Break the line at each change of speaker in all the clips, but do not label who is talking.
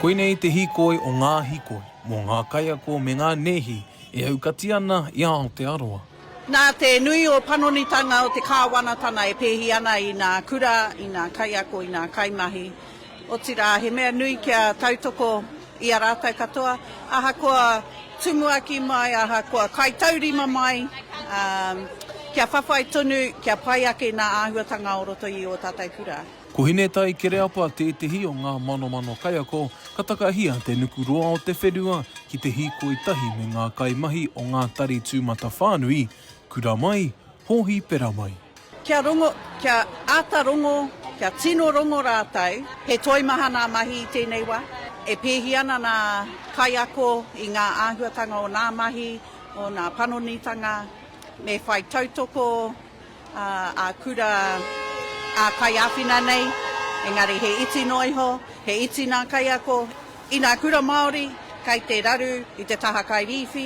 Koinei te hīkoi o ngā hīkoi, mō ngā kaiako me ngā nēhi e aukati ana i a Aotearoa. Nā te
nui o panonitanga o te Kāwanatana e pēhi ana i nā kura, i nā kaiako, i nā kaimahi, Otirā, he mea nui kia tautoko i a rātou katoa, ahakoa tumuaki mai, ahakoa kaitaurima mai, kia whawhai tonu, kia pai ake nā āhuatanga o roto i ō tātou kura. Ko Hinetai
Kereapa tētehi o ngā manomano kaiako ka takahia te nuku roa o te whenua ki te hīkoi tahi me ngā kaimahi o ngā tari tūmatawhānui, kura mai, hōhipera mai. Kia rongo,
kia āta rongo, kia tino rongo rātou. He toimaha ngā mahi i tēnei wā. E pēhi ana ngā kaiako i ngā āhuatanga o ngā mahi, o ngā panonitanga. Me whai tautoko ā-kura, ā-kaiāwhina nei, engari he iti noa iho, he iti ngā kaiako. I ngā kura Māori, kei te raru i te taha kairīwhi,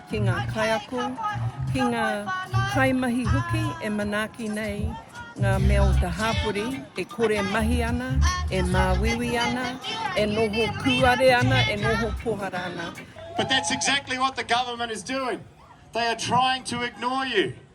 ki ngā kaiako, ki ngā kaimahi hoki e manaaki nei ngā mea o te hāpori e kore mahi ana, e māuiui ana, e noho kūare ana, e noho pohara ana. But that's exactly
what the government is doing. They are trying to ignore you.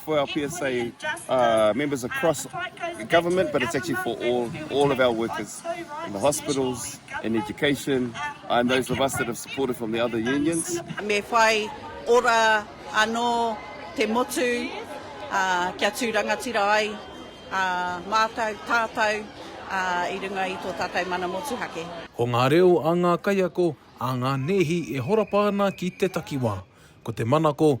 for our PSA uh, members across government, but it's actually for all, all of our workers in the hospitals, in education, and those of us that have supported from the other unions. Me whai
ora ano te motu uh, kia tū rangatira ai uh, mātou, tātou uh, i runga i tō tātou mana motuhake. Ko ngā reo a
ngā kaiako, a ngā nēhi e horapa ana ki te takiwā. Ko te manako,